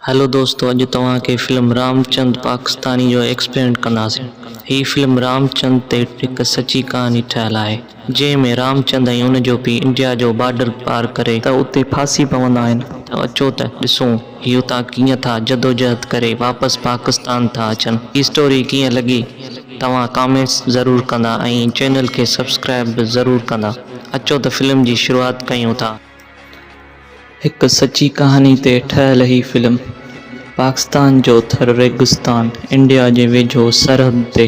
هلو دوستو اڄ توهان کي فلم رام چند پاڪستاني جو ايڪسپيرينٽ ڪنداسين. هي فلم رام چند تي هڪ سچي ڪهاڻي ٺهيل آهي جنهن ۾ رام چند ۽ ان جو پيء انڊيا جو بارڊر پار ڪري ته اتي ڦاسي پوندا آهن ته اچو ته ڏسون هي اتان ڪيئن ٿا جدوجهد ڪري واپس پاڪستان ٿا اچن هي اسٽوري ڪيئن لڳي توهان ڪامينٽس ضرور ڪندا ۽ چينل کي سبسڪرائب به ضرور ڪندا اچو ته فلم جي شروعات ڪيون ٿا. هڪ سچي ڪهاڻي تي ٺهيل هي فلم پاڪستان جو ٿر ريگستان انڊيا جي ويجهو سرحد تي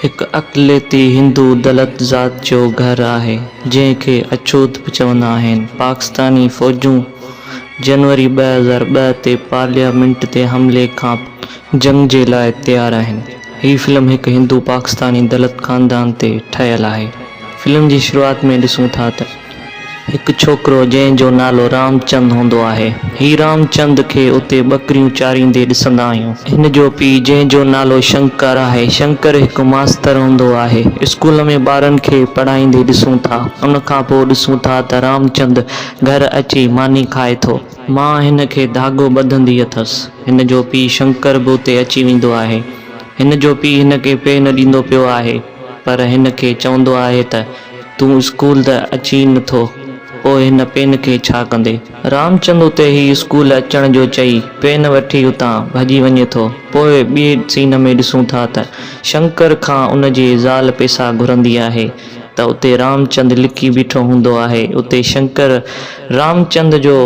هڪ اقليتي هندو دلت ذات جو گهر آهي جنهن کي اڇوت به چوندا آهن. پاڪستاني فوجون جنوري ٻه هزار ٻه تي پارليامينٽ تي حملي کانپوء جنگ جي لاء تيار آهن. هي فلم هڪ هندو پاڪستاني دلت خاندان تي ٺهيل آهي. فلم جي شروعات ۾ ڏسون ٿا ته هڪ ڇوڪرو جنهن جو نالو رام چند هوندو آهي. هي رام چند کي اتي ٻڪريون چاريندي ڏسندا آهيون. هن جو پيء جنهن جو نالو شنڪر آهي. شنڪر هڪ ماستر هوندو آهي. اسڪول ۾ ٻارن کي پڙهائيندي ڏسون ٿا. ان کان پوء ڏسون ٿا ته رام چند گهر اچي ماني کائي ٿو. ماء هن کي ڌاڳو ٻڌندي اٿس. هن جو پيء شنڪر به اتي اچي ويندو آهي. هن جو پيء هن کي پي نه ڏيندو پيو آهي، پر هن کي چوندو آهي ته، تون اسڪول ته اچين ئي نٿو، پوء هن پين کي ڇا ڪندي؟ رامچند اتي ئي اسڪول اچڻ جو چئي، پين وٺي اتان ڀڄي وڃي ٿو. پوء ٻئي سين ۾ ڏسون ٿا ته شنڪر کان ان جي زال پيسا گهرندي آهي. ته اتي رامچند لڪي بيٺو هوندو آهي. اتي شنڪر رامچند جو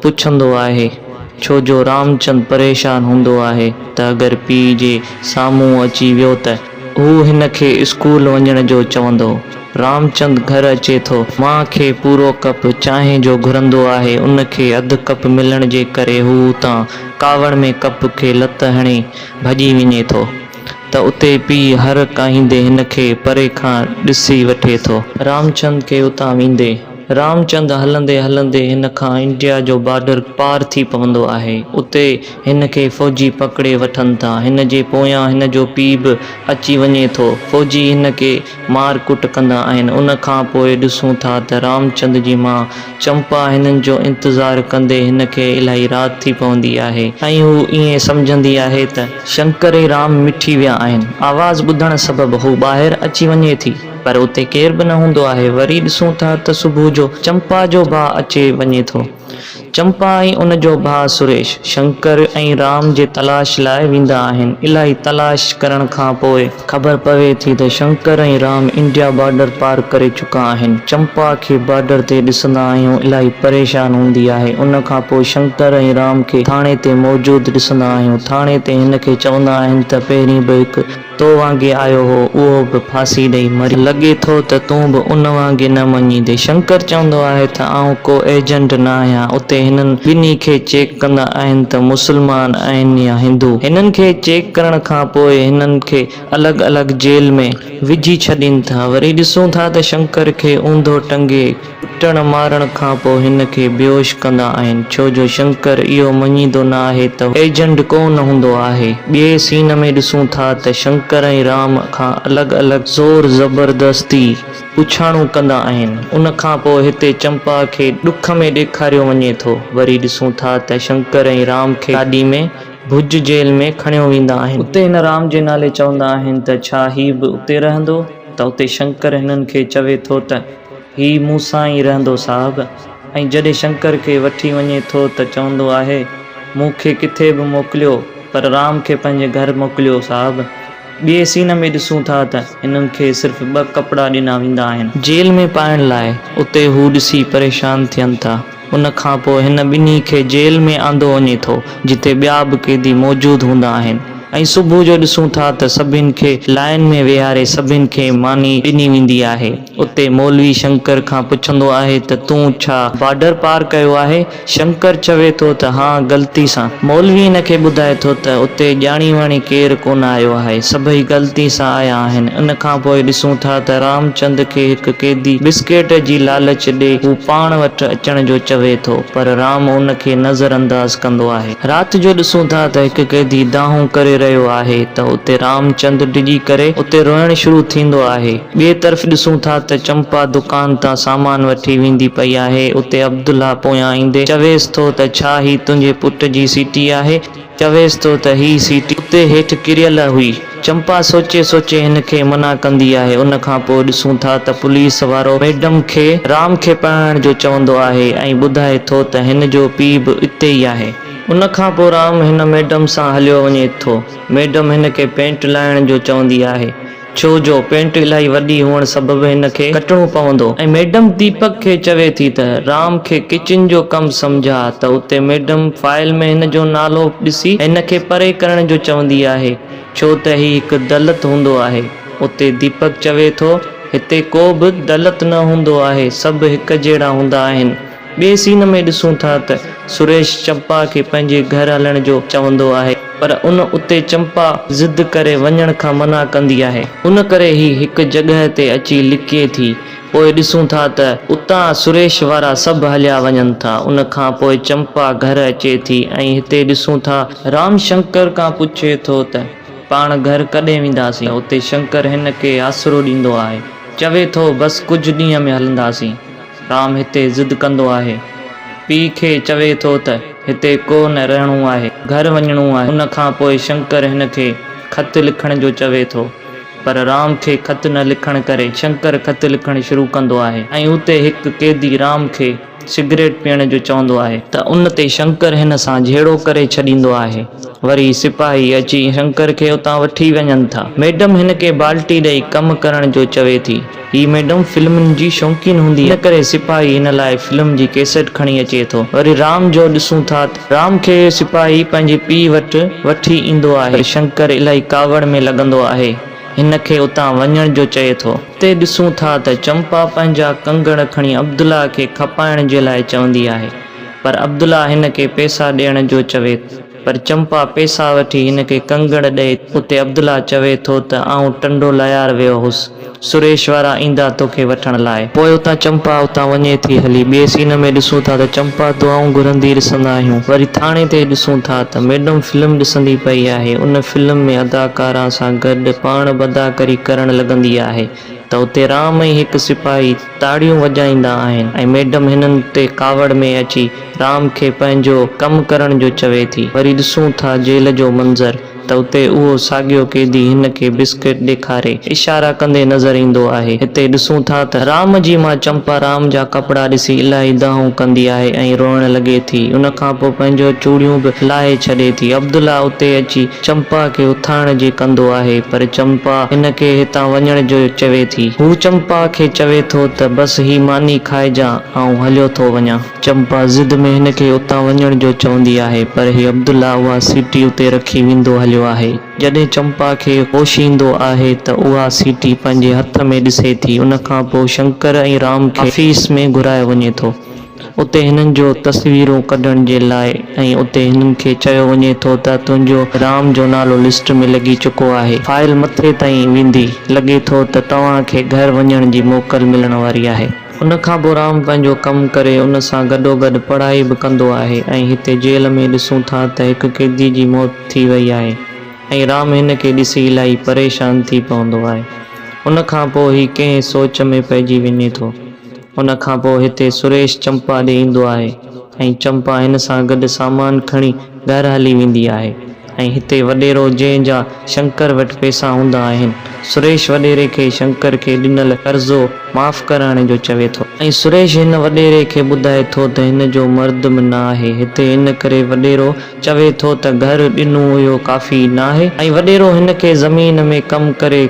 پڇندو آهي، ڇو جو رامچند پريشان هوندو آهي ته اگر پيء جي سامهون اچي ويو ته هو هن کي اسڪول وڃڻ جو چوندو. رامچند گهر اچي ٿو. ماء کي پورو ڪپ چانهه جو گهرندو آهي. ان کي اڌ ڪپ ملڻ جي ڪري هو اتان ڪاوڙ ۾ ڪپ کي لت هڻي ڀڄي وڃي ٿو. ته اتي پيء هر ڪاهيندي هن کي پري کان ڏسي وٺي ٿو. رامچند کي اتان ويندي. رامچند هلندي هلندي هن کان انڊيا جو بارڊر پار ٿي پوندو آهي. اتي هن کي فوجي پڪڙي وٺن ٿا. هن جي پويان هن جو پيء به اچي وڃي ٿو. فوجي هن کي مار ڪٽ ڪندا آهن ان کان پوء ڏسون ٿا ته رامچند جي ماء چمپا هنن جو انتظار ڪندي هن کي الاهي رات ٿي پوندي آهي ۽ هو ائين سمجهندي آهي ته شنڪر ۽ رام مٺي ويا آهن آواز ٻڌڻ سبب هو ٻاهر اچي وڃي ٿي پر اتي ڪير به نه هوندو آهي وري ڏسون ٿا ته صبح جو چمپا جو ڀاء اچي وڃي ٿو. چمپا ۽ ان جو ڀاء سريش، شنڪر ۽ رام جي تلاش لاء ويندا آهن. الاهي تلاش ڪرڻ کان پوء خبر پوي ٿي ته شنڪر ۽ رام انڊيا بارڊر پار ڪري چڪا آهن. چمپا کي بارڊر تي ڏسندا آهيون الاهي پريشان هوندي آهي. ان کان پوء شنڪر ۽ رام کي ٿاڻي تي موجود ڏسندا آهيون. ٿاڻي تي هن کي چوندا آهن ته پهرين به هڪ. تو وانگي آيو هو، اهو به ڦاسي ڏئي مريو. لڳي ٿو ته تون به ان وانگي نه مڃيندين. شنڪر چوندو آهي ته آئون ڪو ايجنٽ نه آهيان. اتي هنن ٻنهي کي چيڪ ڪندا آهن ته مسلمان آهن يا هندو. هنن کي چيڪ ڪرڻ کان پوء هنن کي الڳ الڳ جيل ۾ وجهي ڇڏين ٿا. وري ڏسون ٿا ته شنڪر کي اونڌو ٽنگي. ڪٽڻ مارڻ کان پوء هن کي بيهوش ڪندا آهن، ڇو جو شنڪر اهو مڃيندو نه آهي ته هو ايجنڊ ڪو نه هوندو آهي. ٻئي سين ۾ ڏسون ٿا ته شنڪر ۽ رام کان الڳ الڳ زور زبردستي پڇاڻون ڪندا آهن، ان کان پوء هتي چمپا کي ڏک ۾ ڏيکاريو وڃي ٿو، وري ڏسون ٿا ته شنڪر ۽ رام کي گاڏي ۾ ڀڄ جيل ۾ کڻيو ويندا آهن. اتي هن رام جي نالي چوندا آهن ته ڇا هي به اتي رهندو ته اتي شنڪر هنن کي چوي ٿو ته هي مون سان ئي رهندو صاحب ۽ جڏهن شنڪر کي وٺي وڃي ٿو ته چوندو آهي مون کي ڪٿي به موڪليو پر رام کي پنهنجي گهر موڪليو صاحب. ٻئي سين ۾ ڏسون ٿا ته هنن کي صرف ٻه ڪپڙا ڏنا ويندا آهن. جيل ۾ پائڻ لاء اتي هو ڏسي پريشان ٿين ٿا ان کانپوء هن ٻنهي کي جيل ۾ آندو وڃي ٿو جتي ٻيا به قيدي موجود هوندا آهن ۽ صبح جو ڏسون ٿا ته سڀني کي لائين ۾ ويهاري سڀني کي ماني ڏني ويندي آهي. اتي مولوي شنڪر کان پڇندو آهي ته تون ڇا بارڊر پار ڪيو آهي؟ شنڪر چوي ٿو ته ها غلطي سان. مولوي هن کي ٻڌائي ٿو ته اتي ڄاڻي واڻي ڪير ڪونه آيو آهي، سڀئي غلطي سان آيا آهن. ان کان پوء ڏسون ٿا ته رامچند کي هڪ قيدي بسڪيٽ جي لالچ ڏي هو پاڻ وٽ اچڻ جو چوي ٿو پر رام ان کي نظر انداز ڪندو آهي. رات جو ڏسون ٿا ته هڪ قيدي دانهون ڪري رهيو آهي ته اتي رامچند ڊڄي ڪري اتي روئڻ شروع ٿيندو آهي. ٻئي طرف ڏسون ٿا ته چمپا دڪان تان سامان وٺي ويندي پئي آهي، اتي عبدالله پويان ايندي چويس ٿو ته ڇا هي تنهنجي پٽ جي سيٽي آهي؟ چويس ٿو ته هي سيٽي اتي هيٺ ڪريل هئي. چمپا سوچي سوچي هن کي منع ڪندي آهي. ان کان پوء ڏسون ٿا ته پوليس وارو ميڊم کي رام کي پرڻائڻ جو چوندو آهي ۽ ٻڌائي ٿو ته هن جو پيء به اتي ئي آهي. ان کان پوء رام هن ميڊم سان هليو وڃي ٿو. ميڊم هن کي پينٽ لائڻ جو چوندي آهي. ڇو جو پينٽ الاهي وڏي هئڻ سبب هن کي ڪٽڻو پوندو ۽ ميڊم ديپڪ کي چوي ٿي ته رام کي ڪچن جو ڪم سمجهاء ته اتي ميڊم فائل ۾ هن جو نالو ڏسي هن کي پري ڪرڻ جو چوندي آهي ڇو ته هي هڪ دلت هوندو آهي اتي ديپڪ چوي ٿو هتي ڪو به دلت نه هوندو آهي سڀ هڪ جهڙا هوندا آهن. ٻئي سين ۾ ڏسون ٿا ته سريش چمپا کي پنهنجي گهر هلڻ جو چوندو آهي پر ان اتي چمپا ضد ڪري وڃڻ کان منع ڪندي آهي ان ڪري هي هڪ جڳهه تي اچي لڪي ٿي پوء ڏسون ٿا ته اتان سريش وارا سڀ هليا وڃن ٿا ان کان پوء چمپا گهر اچي ٿي ۽ هتي ڏسون ٿا رام شنڪر کان پڇي ٿو ته پاڻ گهر ڪڏهن وينداسين اتي شنڪر هن کي آسرو ڏيندو آهي چوي ٿو بس ڪجهه ڏينهن ۾ هلنداسين. رام هتي ضد ڪندو آهي. پيء کي چوي ٿو ته هتي ڪو نه رهڻو آهي، گهر وڃڻو آهي. ان کان پوء شنڪر هن کي خط لکڻ جو چوي ٿو. پر رام کي خط نه لکڻ ڪري شنڪر خط لکڻ شروع ڪندو آهي ۽ اتي هڪ قيدي رام کي سگريٽ پيئڻ جو چوندو آهي. ته ان تي شنڪر هن سان جهيڙو ڪري ڇڏيندو آهي. وري سپاهي اچي شنڪر کي اتان وٺي وڃن ٿا. ميڊم هن کي بالٽي ڏئي ڪم ڪرڻ جو چوي ٿي. هي ميڊم فلمن جي شوقين هوندي ان ڪري سپاهي هن لاء فلم جي ڪيسيٽ کڻي اچي ٿو وري رام جو ڏسون ٿا ته رام کي سپاهي پنهنجي پيء وٽ وٺي ايندو آهي پر شنڪر الائي ڪاوڙ ۾ لڳندو آهي هن کي اتان وڃڻ جو چئي ٿو اتي ڏسون ٿا ته چمپا پنهنجا ڪنگڻ کڻي عبدالله کي کپائڻ جي لاء چوندي آهي پر عبدالله هن کي پئسا ڏيڻ جو چوي ٿو. پر چمپا پيسا وٺي هن کي ڪنگڻ ڏئي اتي عبدالله چوي ٿو ته آئون ٽنڊو ليار ويو هوس، سريش وارا ايندا توکي وٺڻ لاء. پوء اتان چمپا اتان وڃي ٿي هلي. ٻئي سين ۾ ڏسون ٿا ته چمپا دعائون گهرندي ڏسندا آهيون. وري ٿاڻي تي ڏسون ٿا ته ميڊم فلم ڏسندي پئي آهي. ان فلم ۾ اداڪارا سان گڏ پاڻ به اداڪري ڪرڻ لڳندي آهي. ته اتي رام ۽ هڪ سپاهي تاڙيون وڄائيندا آهن ۽ ميڊم هنن تي ڪاوڙ ۾ اچي رام کي پنهنجو ڪم ڪرڻ جو چوي ٿي. وري ڏسون ٿا جيل جو منظر ته اتي اهو ساڳيو قيدي هن کي بسڪٽ ڏيکاري اشارا ڪندي نظر ايندو آهي. هتي ڏسون ٿا ته رام جي ماء چمپا رام جا ڪپڙا ڏسي الاهي دانهون ڪندي آهي ۽ روئڻ لڳي ٿي. ان کان پوء پنهنجو چوڙيون به لاهي ڇڏي ٿي. عبدالله اتي اچي چمپا کي اٿائڻ جي ڪندو آهي پر چمپا هن کي هتان وڃڻ جو چوي ٿي. هو چمپا کي چوي ٿو ته بس هي ماني کائجان آئون هليو ٿو وڃان. چمپا ضد ۾ هن کي اتان وڃڻ جو چوندي آهي پر هي عبدالله اها سيٽي اتي رکي ويندو هليو آهي. جڏهن چمپا کي هوش ايندو آهي ته اها سيٽي پنهنجي هٿ ۾ ڏسي ٿي. ان کان پوء شنڪر ۽ رام کي آفيس ۾ گهرايو وڃي ٿو. اتي هنن جو تصويرون ڪڍڻ جي لاء ۽ اتي هنن کي چيو وڃي ٿو ته تنهنجو رام جو نالو لسٽ ۾ لڳي چڪو آهي. فائل مٿي تائين ويندي، لڳي ٿو ته توهان کي گهر وڃڻ جي موڪل ملڻ واري آهي. ان کان پوء رام پنهنجو ڪم ڪري ان سان گڏوگڏ پڙهائي به ڪندو آهي ۽ هتي جيل ۾ ڏسون ٿا ته هڪ قيدي جي موت ٿي وئي آهي ۽ رام هن کي ڏسي الائي پريشان ٿي پوندو آهي. ان کان پوء هي ڪنهن سوچ ۾ پئجي وڃي ٿو. ان کان پوء هتي سريش چمپا ڏي ايندو آهي ۽ چمپا هن سان گڏ سامان کڻي گهر هلي ويندي آهي ۽ هتي وڏيرو جنهن جا شنڪر وٽ پئسا هوندا آهن سريش وڏيري کي شنڪر کي ڏنل قرضو معاف ڪرائڻ جو چوي ٿو ۽ سريش هن وڏيري کي ٻڌائي ٿو ته هن جو مرد به نه آهي هتي ان ڪري وڏيرو چوي ٿو ته گهر ڏنو اهو ڪافي ناهي ۽ وڏيرو هن کي زمين ۾ ڪم ڪري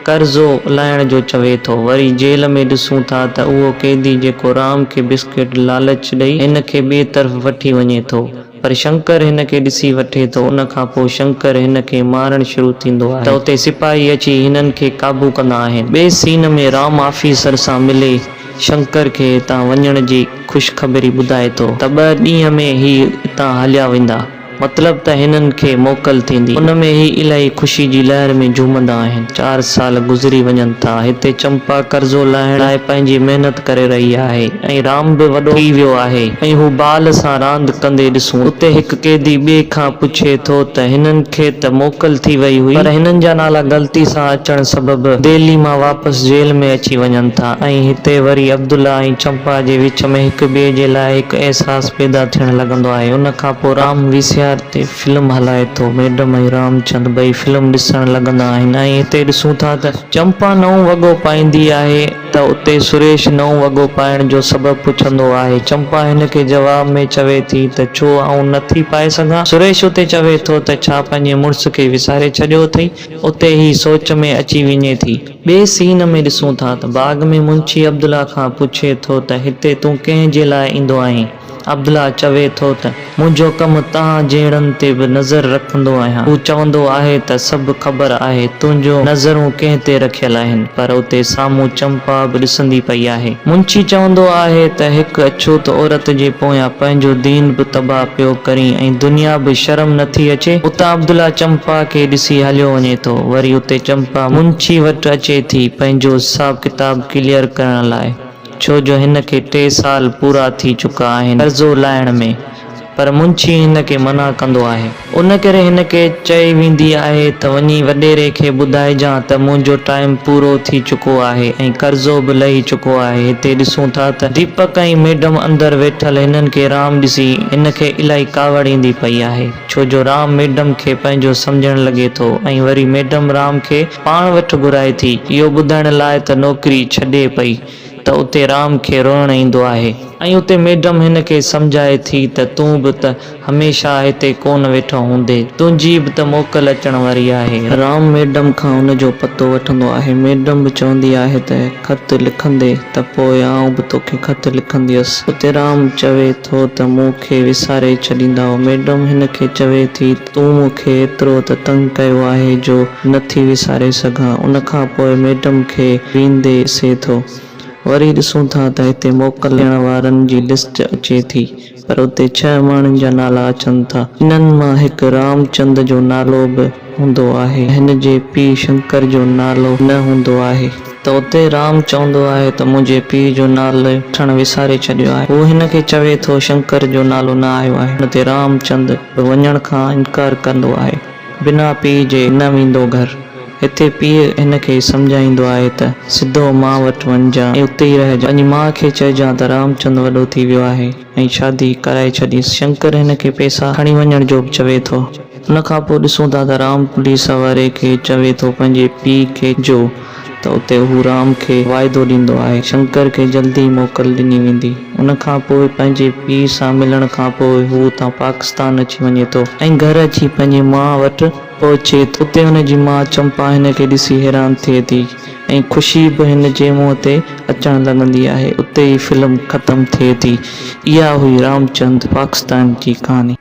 قرضو لاهڻ جو چوي ٿو. وري جيل ۾ ڏسون ٿا ته اهو قيدي جيڪو رام کي بسڪٽ لالچ ڏئي هن کي ٻئي طرف وٺي وڃي ٿو پر شنڪر هن کي ڏسي وٺي ٿو ان کان پوء شنڪر هن کي مارڻ شروع ٿيندو آهي ته اتي سپاهي اچي هنن کي قابو ڪندا آهن. ٻئي سين ۾ رام آفيسر سان ملي شنڪر کي هتان وڃڻ جي خوشخبري ٻڌائي ٿو ته ٻه ڏينهن ۾ هي هتان هليا ويندا. مطلب ته هنن کي موڪل ٿيندي. ان ۾ هي الائي خوشي جي لهر ۾ جهومندا آهن. چار سال گذري وڃن ٿا. هتي چمپا قرضو لاهڻ لاء پنهنجي محنت ڪري رهي آهي ۽ رام به وڏو ٿي ويو آهي ۽ هو بال سان راند ڪندي ڏسون. اتي هڪ قيدي ٻئي کان پڇي ٿو ته هنن کي ته موڪل ٿي وئي هئي پر هنن جا نالا غلطي سان اچڻ سبب دهلي مان واپس جيل ۾ اچي وڃن ٿا ۽ هتي وري عبدالله ۽ چمپا جي وچ ۾ هڪ ٻئي جي لاء هڪ احساس پيدا ٿيڻ لڳندو آهي ان کان پوء رام وي سي آر تي فلم هلائي ٿو ميڊم ۽ رامچند ٻئي فلم ڏسڻ لڳندا آهن ۽ هتي ڏسون ٿا ته چمپا نئون وڳو پائيندي آهي ته اتي سريش نئون وڳو پائڻ جو سبب پڇندو آهي چمپا هن کي جواب ۾ چوي ٿي ته ڇو آئون نه ٿي پائي سگهان سريش اتي چوي ٿو ته ڇا پنهنجي مڙس کي وساري ڇڏيو اٿئي اتي هي سوچ ۾ اچي وڃي ٿي. ٻئي سين ۾ ڏسون ٿا ته باغ ۾ منشي عبدالله کان پڇي ٿو ته هتي تون ڪنهن جي لاء ايندو آهين؟ عبدالله چوي ٿو ته منهنجو ڪم توهان جهڙن تي به نظر رکندو آهيان، هو چوندو آهي ته سڀ خبر آهي تنهنجون نظرون ڪنهن تي رکيل آهن پر اتي سامهون چمپا به ڏسندي پئي آهي. منشي چوندو آهي ته هڪ اڇوت عورت جي پويان پنهنجو دين به تباهه پيو ڪرين ۽ دنيا به شرم نٿي اچي؟ اتان عبدالله چمپا کي ڏسي هليو وڃي ٿو وري اتي چمپا. ڀا منشي وٽ اچي ٿي پنهنجو حساب ڪتاب ڪليئر ڪرڻ لاء ڇو جو هن کي ٽي سال پورا ٿي چڪا آهن قرضو لاهڻ ۾ پر منشي هن کي منع ڪندو آهي. ان ڪري هن کي چئي ويندي آهي ته وڃي وڏيري کي ٻڌائجان ته منهنجو ٽائيم پورو ٿي چڪو آهي ۽ قرضو به لهي چڪو آهي هتي ڏسون ٿا ته ديپڪ ۽ ميڊم اندر ويٺل هنن کي رام ڏسي هن کي الائي ڪاوڙ ايندي پئي آهي. ڇو جو رام ميڊم کي پنهنجو سمجهڻ لڳي ٿو ۽ وري ميڊم رام کي پاڻ وٽ گهرائي ٿي اهو ٻڌائڻ لاء ته نوڪري ڇڏي پئي ته اتي رام کي روئڻ ايندو آهي ۽ اتي ميڊم هن کي سمجهائي ٿي ته تون به ته هميشه هتي ڪونه ويٺو هوندي تنهنجي به ته موڪل اچڻ واري آهي. رام ميڊم کان ان جو پتو وٺندو آهي ميڊم به چوندي آهي ته. خط لکندي ته پوء آئون به توکي خط لکنديس. اتيرام چوي ٿو ته مون کي وساري ڇڏيندائو. ميڊم هن کي چوي ٿي ته تون مون کي ايترو ته تنگ ڪيو آهي جو نه ٿي وساري سگهان. ان کان پوء ميڊم کي ويندي سي ٿو. وري ڏسون ٿا ته هتي موڪل ڏيڻ وارن جي لسٽ اچي ٿي. پر اتي ڇهه ماڻهن جا نالا اچن ٿا. انهن مان هڪ رام چند جو نالو به هوندو آهي. هن جي پيء شنڪر جو نالو نه هوندو آهي. ته اتي رام چوندو آهي ته منهنجي پيء جو نالو وٺڻ وساري ڇڏيو آهي. هو هن کي چوي ٿو شنڪر جو نالو نه آيو آهي. ان تي رام چند به وڃڻ کان انڪار ڪندو آهي. بنا پيء جي نه ويندو گهر. هتي پيء هن کي سمجهائيندو آهي ته، سڌو ماء وٽ وڃجان ۽ اتي ئي رهجان. پنهنجي ماء کي چئجان ته رامچند وڏو ٿي ويو آهي ۽ شادي ڪرائي ڇڏيس. شنڪر هن کي پئسا کڻي وڃڻ جو به چوي ٿو. ان کان پوء ڏسون ٿا ته رام پوليس واري کي چوي ٿو پنهنجي پيء کي جو ته اتي هو رام کي واعدو ڏيندو آهي شنڪر کي جلدي ئي موڪل ڏني ويندي. ان کان پوء پنهنجي پيء سان ملڻ کان پوء هو اتان پاڪستان اچي وڃي ٿو ۽ گهر اچي پنهنجي ماء وٽ پهچي اتي هن جي ماء چمپا هن کي ڏسي حيران ٿئي ٿي ۽ خوشي به هن جي منهن تي اچڻ لڳندي آهي. اتي ئي فلم ختم ٿئي ٿي. اها هئي رامچند پاڪستان جي ڪهاڻي.